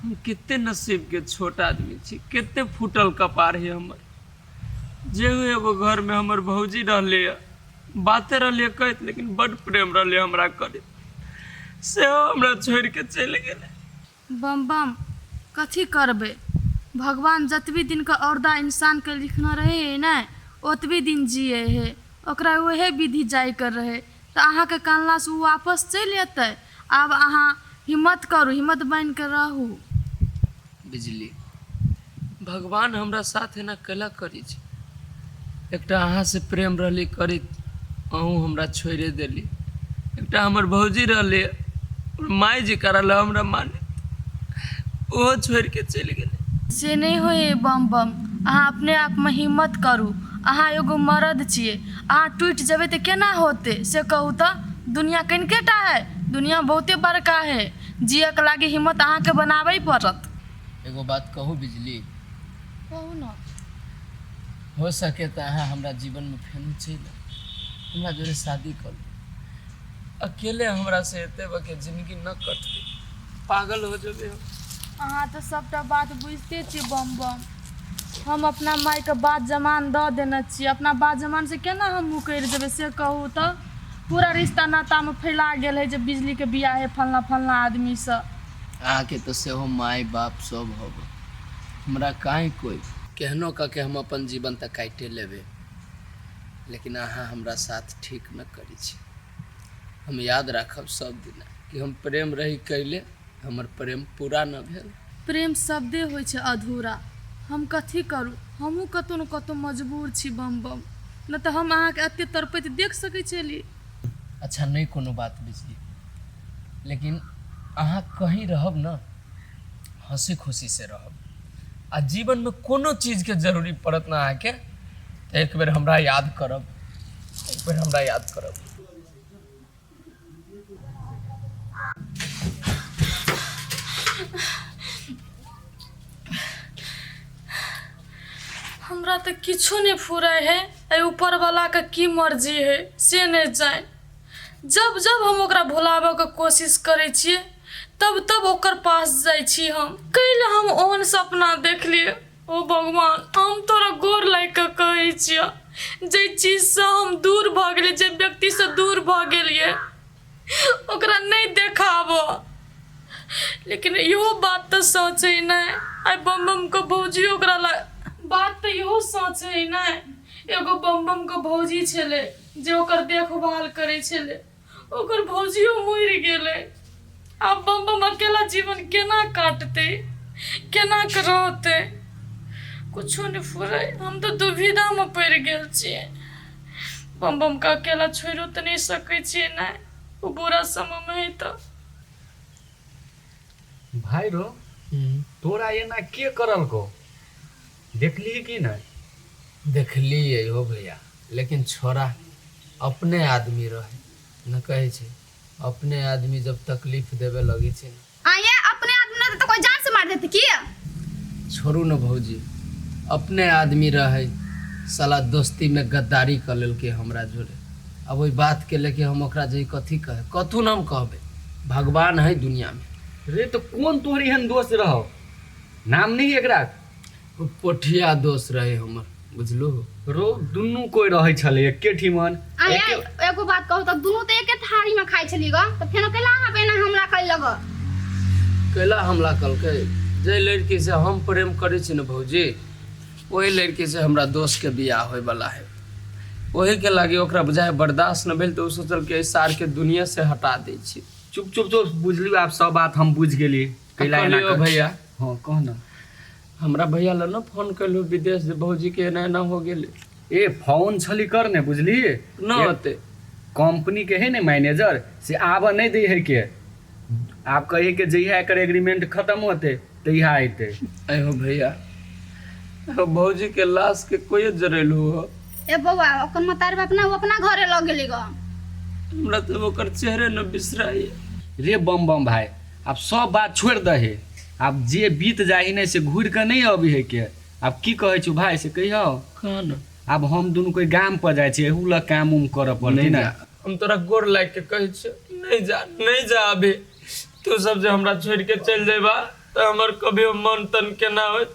हम कते नसीबके छोट आदमी छी कते फूटल कपार है हमर जे हुए एगो घरमे हमर भौजी रहले बाते रहले कहैत लेकिन बड प्रेम रहले हमरा करे से हमरा छोड़ के चलि गेलै बम बम कथी करबै भगवान जतबी दिनके औरदा इंसानके लिखना रहै है ने ओतबी दिन जिए है ओकरा उहे विधि जाइके रहै तऽ अहाँके कानलासँ ओ वापस चलि अयतै आब अहाँ हिम्मत करू, हिम्मत बान्हि कऽ रहू। बिजली, भगवान हमरा साथ एना कैला करै छी? एकटा अहाँसँ प्रेम रहलै करैत, अहूँ हमरा छोड़िए देलियै। एकटा हमर भौजी रहलै, हमर माय जकाँ रहलै, हमरा मानैत, ओहो छोड़ि कऽ चलि गेलै। से नहि होइए बम बम, अहाँ अपने आपमे हिम्मत करू। अहाँ एगो मरद छियै। अहाँ टूटि जेबै तऽ केना होतै से कहू तऽ दुनिया कनिके टा है दुनिया बहुते बड़का है जियऽ के लागी हिम्मत अहाँके बनाबै पड़त एगो बात कहू बिजली कहू ने हो सके तऽ अहाँ हमरा जीवनमे फेनो चलि आउ। हमरा जोरे शादी करू अकेले हमरा से एते बके जिंदगी न कटते पागल हो जेबे हम अहाँ तऽ सभटा बात बुझिते छी बम बम हम अपना मायके बात जमान दऽ देने छी अपना बात जमान से केना हम मुकरि देबै से कहू तऽ पूरा रिश्ता नातामे फैला गेल है जे बिजलीके बियाह है फलना फलना आदमीसँ अहाँके तऽ सेहो माय बाप सब हब हमरा काहे कोई केहनो कऽ के हम अपन जीवन तऽ काटे लेबे लेकिन अहाँ हमरा साथ ठीक न करी छी हम याद राखब सब दिन कि हम प्रेम रही कैले हमर प्रेम पूरा न भेल प्रेम शब्दे होइ छै अधूरा हम कथी करू हमहूँ कतहु ने कतहु मजबूर छी बम बम नहि तऽ हम अहाँके एते तड़पैत देख सकै छली अच्छा नहि कोनो बात बिजली लेकिन अहाँ कहीं रहब न हंसी खुशी से रहब आ जीवन में कोनो चीज के जरूरी पड़त ना अहाँके एक बेर हमरा याद करब एक बेर हमरा याद करब हमरा तऽ किछो नहि फुराय है एहि ऊपर वाला के की मर्जी है से नहि जान जब जब हम ओकरा भुलाबऽ के कोशिश करै छियै तब तब ओकर पास जाइ छी हम कैल हम ओहन सपना देखलियै ओ भगवान हम तोरा गोर लागि कऽ कहै छियऽ जाहि चीजसँ हम दूर भऽ गेलियै जाहि व्यक्तिसँ दूर भऽ गेलियै ओकरा नहि देखाबऽ लेकिन इहो बात तऽ सच है नहि आइ बम बमके भौजी ओकरा लग बात तऽ इहो सच है नहि एगो बम बमके भौजी छलै जे ओकर देखभाल करै छलै ओकर भौजियो मरि गेलै आब बम बम अकेला जीवन केना काटतै केना कऽ रहतै किछो नहि फुरै हम तऽ दुविधामे पड़ि गेल छियै बम बमके अकेला छोड़िओ तऽ नहि सकै छियै ने ओ बुरा समयमे है तऽ भाइ रो तोरा एना के करलको देखलीही की नय? देखलियै हो भैया लेकिन छौड़ा अपने आदमी रहै न कहै छै अपने आदमी जब तकलीफ देबे लगै छै न आ ये अपने आदमी रहते तो कोई जान से मार देते की छोड़ू न भौजी अपने आदमी रहै साला दोस्ती में गद्दारी क लेलकै हमरा जोरे अब ओहि बात के लेके हम ओकरा जे कथी कहे कथू न हम कहबे भगवान है दुनिया में रे तो कौन तोहर एहन दोस्त रहो नाम नहीं एकरा ओ पोठिया दोस्त रहे हमर बुझलू रो दुनू कोई रहे छले एके ठिमन अरे एके- एगो बात कहू तऽ दुनू तऽ एके थारी में खाइ छलियै ग तऽ फेनो कैला अहाँ पे एना हमला करि लग कैला हमला कलकै जे लड़की से हम प्रेम करै छी ने भौजी ओहि लड़की से हमरा दोस्त के बियाह होय वाला है ओही के लागे ओकरा बुझाय बर्दाश्त न भेल तऽ ओ सोचल कि एहि सार के दुनिया से हटा दै छी चुप चुप चुप बुझलियो आब सब बात हम बुझ गेली कैला एना कहलियो कर- भैया हँ कह ने हमरा भैया लग ने फोन कैलू विदेश जे भौजी के एना एना हो गेल ए फोन छली कर ने बुझली न होते कंपनी के है ने मैनेजर से आब नहीं दे है के आप कहे के जहिया एकर एग्रीमेंट खत्म होते तहिया अते अहो भैया अहो भौजी के लाश के कोई जरेलू हो ए बौआ अपन मतार बाप ना वो अपना घरे लग गेली गो हमरा तो ओकर चेहरे न बिसराई रे बम बम भाई आब सब बात छोड़ि दही आब जे बीत जाही नहि से घूर कऽ नहि अबी है के आब की कहै छौ भाय से कहियो कौन आब हम दुनू कोई गाम पर जाइ छियै एहू लग काम उम करऽ पड़तै नहि ने जा। हम तोरा गोर लागि के कहै छियौ कि नहि जा नहि जा अभी तू सब जे हमरा छोड़ि के चलि जेबा तऽ हमर कभियो मन तन केना होइत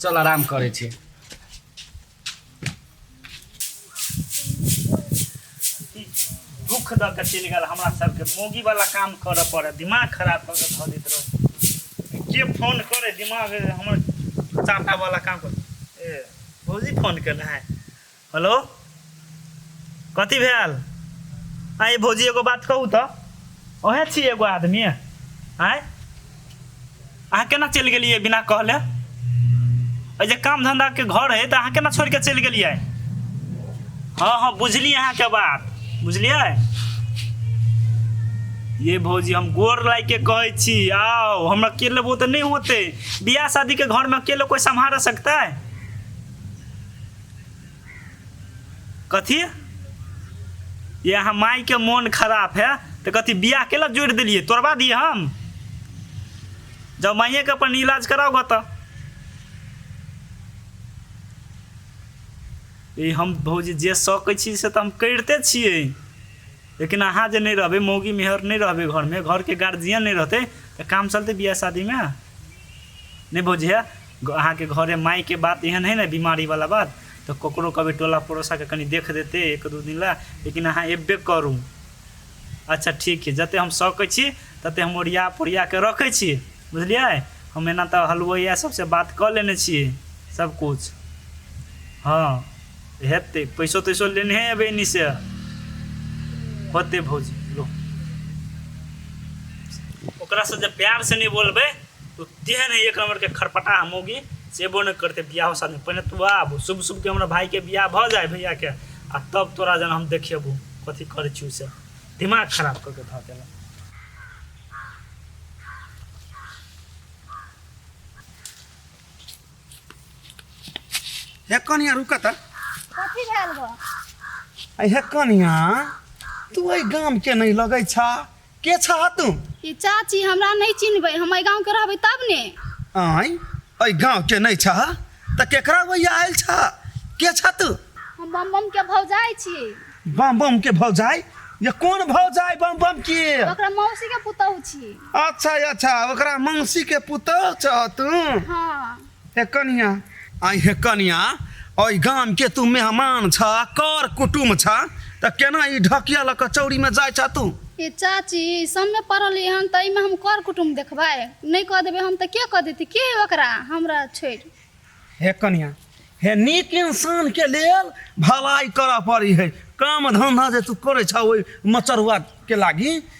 चल आराम करे छे दुख द के चलि गेल हमरा सबके मोगी वाला काम करऽ पड़े दिमाग खराब कऽ के धऽ दैत रहो के फोन करे दिमाग हमर चाटा वाला काम कर ए भौजी फोन केने है हेलो कथी भेल आइ भौजी एगो बात कहू तऽ ओहे छी एगो आदमी आँय अहाँ केना चलि गेलियै बिना कहले एहि जे काम धंधाके घर हइ तऽ अहाँ केना छोड़ि कऽ चलि गेलियै हँ हँ बुझलियै अहाँके बात बुझलियै ये भौजी हम गोर लाग के कहै छी आओ हम अकेले वो तऽ नहि होते बियाह शादी के घर में अकेले कोई संभाल सकता है कथी ये अहाँ मायके मोन खराब है तऽ कथी बियाह केला जोड़ि देलियै तोड़बा दियै हम जब माइएके अपन इलाज कराउ गऽ तऽ ई हम भौजी जे सकै छी से तऽ हम करिते छियै लेकिन अहाँ जे नहि रहबै मौगी मेहर नहि रहबै घरमे घरके गार्जियन नहि रहतै तऽ काम चलतै बियाह शादीमे नहि भौजी हे अहाँके घरे मायके बात एहन है ने बीमारी वाला बात तऽ ककरो कहबै टोला पड़ोसाके कनि देख देतै एक दू दिन लए लेकिन अहाँ एबे करू अच्छा ठीक है जते हम सकै छी तते हम ओरिया पोरिया के रखै छी बुझलियै हम एना तऽ हलवैया सबसे बात कऽ लेने छियै सब कुछ हँ हेतै पैसो तैसो लेने एबै एनी से होते भौजी लो ओकरा से जे प्यार से नहीं बोलबै तो तेहन है एक नंबर के खरपटा मोगी सेबो नहीं करते बियाह शादी पहले तू आब शुभ शुभ के हमारा भाई के बियाह भ जाए भैया के आ तब तोरा जन हम देखेबू कथी करे छी से दिमाग खराब करके धऽ देला हे कनिया रुका त कथी भेल गो अरे हे कनिया तू एहि गाम के नहीं लगै छा के छह तू ई चाची हमरा नहीं चिन्हबै हम एहि गाँव के रहबै तब ने आँय एहि गाँव के नहीं छह तऽ केकरा वैया आयल छह के छह तू हम बम बम के भौजाई छी बम बम के भौजाई ये कोन भौजाई बम बम के ओकरा मौसी के पुतहु छी अच्छा अच्छा ओकरा मौसी के पुतोह छह तू हाँ हे कनिया आइ हे कनिया ओहि गाम के तू मेहमान छ कर कुटुम छ त केना ई ढकिया ल क चौरी में जाय छ तू ए चाची समय पड़ल हन त एहिमे हम कर कुटुम देखबै नहि कह देबै हम त के कह देती के ओकरा हमरा छोड़ हे कनिया हे नीक इंसान के लेल भलाई कर पड़ी है काम धंधा जे तू करे छ ओहि मचरुआ के लागी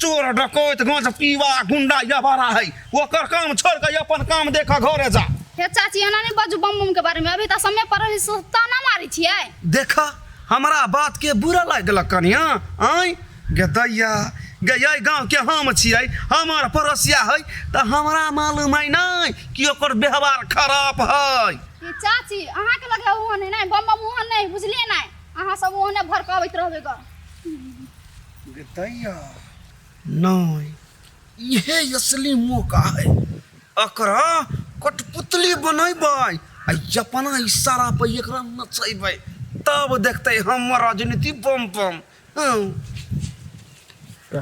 चोर डकैत गाँच पीवा गुंडा या बारा है ओकर काम छोड़ के अपन काम देख घरे जा हे चाची एना नहीं बाजू बम बम के बारे में अभी तो समय पर रही सुता ना मारी छिए देखा हमरा बात के बुरा लग गेल कनिया आय गे दैया गे ये गाँव के हम छियै हमर पड़ोसिया है तो हमरा मालूम है नहीं कि ओकर व्यवहार खराब है हे चाची अहाँ के लगे ओहन है नहीं बम बम ओहन नहीं बुझलिए नहीं अहाँ सब ओहने भड़कावैत रहबे ग दैया नहि इहे असली मौका है एकरा कठपुतली बनेबै आ अपना इशारा पर एकरा नचेबै तब देखते हमर राजनीति बम बम हँ।